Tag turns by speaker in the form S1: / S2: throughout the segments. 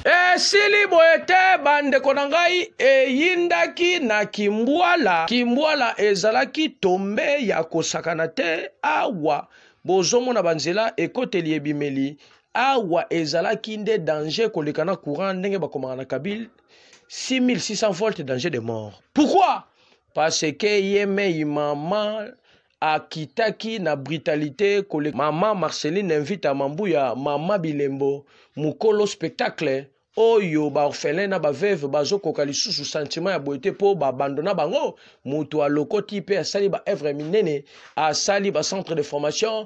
S1: esili boye te bandeko na ngai eyindaki na kimbwala kimbwala ezalaki tombe ya kosakana te awa bozomona banzela ekoteli ebimeli awa ezalaki nde danger koleka na courant ndenge bakomaka na kabile 6600 volt danger de mort pourquoi parce que ye mei mama akitaki na brutalité koleka mama marceline invita mambuya mama bilembo mokolo spectacle oyo baorphelin na baveuve bazokoka lisusu sentiment ya boye te mpo babandona bango moto alokoti mpe asali baevre minene asali bacentre de formation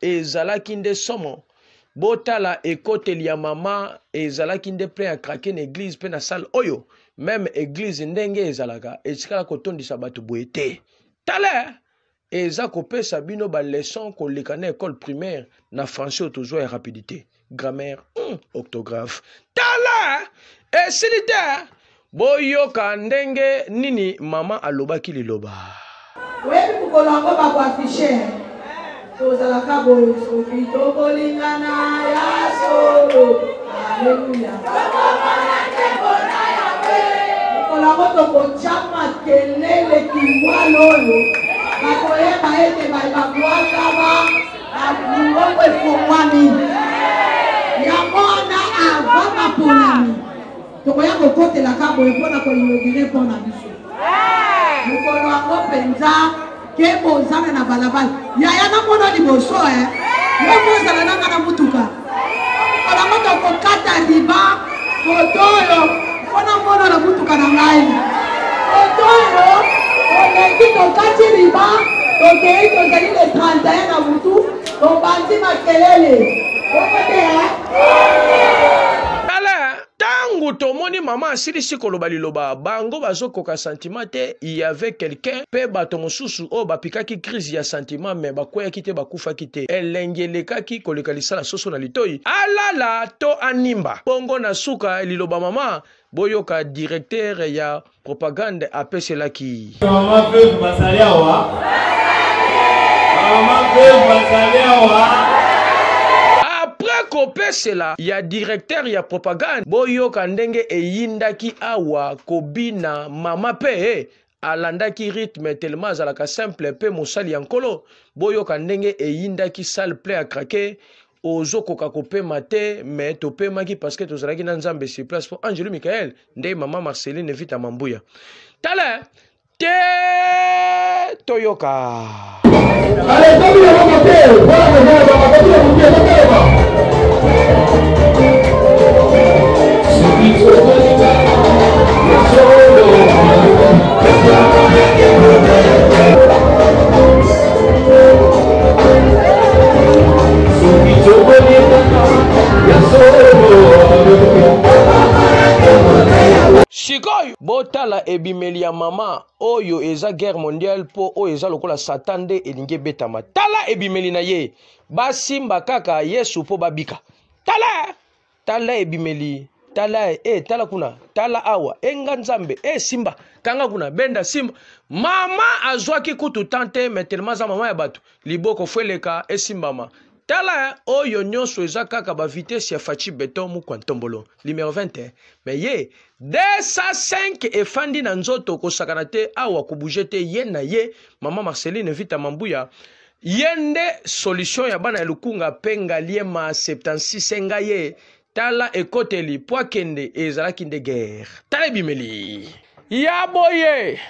S1: ezalaki nde somo botala ekoteli ya mama ezalaki nde plein ya krake na eglize mpe na salle oyo meme eglize ndenge ezalaka etikala kotondisa bato boye te tala eza kopesa bino baleson koleka na ekole primaire na français oyo tozwa ya rapidité grammaire mm, octographe tala esili te boyoka ndenge nini mama alobaki liloba oyebi
S2: mokolo yango bakoafishe tozalaka boyo soki tokolingana ya solo aleluya mokolo yango tokotya makelele kingwalo oyo bakoyeba ete babwakama Mongongo efongwami. Yango wana avant maponami tokoya kokotelaka boye mpo na koinogire mpo na biso mokolo yango mpenza ke bozana na balabala yaya namona liboso e eh? yo kozala nanga na motuka Bango tokokata riba moto oyo mpo namona na motuka na ngai moto oyo oleki tokati riba tokei tozali le 31 na motu tobandi makelele okoteya
S1: tala ntango tomoni mama asilisi koloba liloba bango bazokoka santima te y avait quelqu'un mpe bato mosusu oyo bapikaki crise ya santima me bakweyaki te bakufaki te elengi elekaki koleka lisala soso na litoi alala to animba bongo na suka liloba mama boyoka directeur ya propagande apeselaki mama veuve
S3: bazali awa mama veuve bazali awa après
S1: kopesela ya directeur ya propagande boyoka ndenge eyindaki awa kobina mama mpe eh, alandaki rythme telema azalaka simple mpe mosali ya nkolo boyoka ndenge eyindaki salle plein ya krake ozokoka kopema te me topemaki parceke tozalaki na nzambe sur place mpo angelo michael nde mama marceline vita mambuya tala te toyoka sikoyo botala ebimeli ya mama oyo eza guerre mondiale mpo oyo eza lokola satan nde elingi ebetama tala ebimeli na ye basimba kaka yesu mpo babika tala tala ebimeli tala e eh, tala kuna tala awa e nga nzambe e simba kanga kuna benda simba mama azwaki kutu tan te me telema aza mama ya bato liboko fo eleka esimbama tala oyo nyonso eza kaka bavitese ya faci beton mukwa ntombolo numero 20 eh. me ye 205 efandi na nzoto kosakana te awa kobuje te ye na ye mama marceline vita mambuya ye nde solution ya bana ya lukunga mpe ngaliema 76 enga ye tala ekoteli mpo akende ezalaki nde guerre tala ebimeli ya boye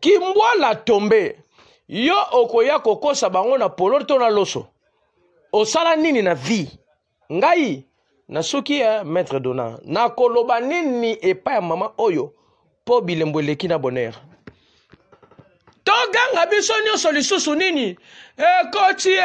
S1: kimbwala tombe yo okoya kokosa bango na polo to na loso osala nini na vie ngai na soki eh, maître dona nakoloba nini epai ya mama oyo mpo bilembo eleki na bonheur toganga biso nyonso lisusu nini ekoti e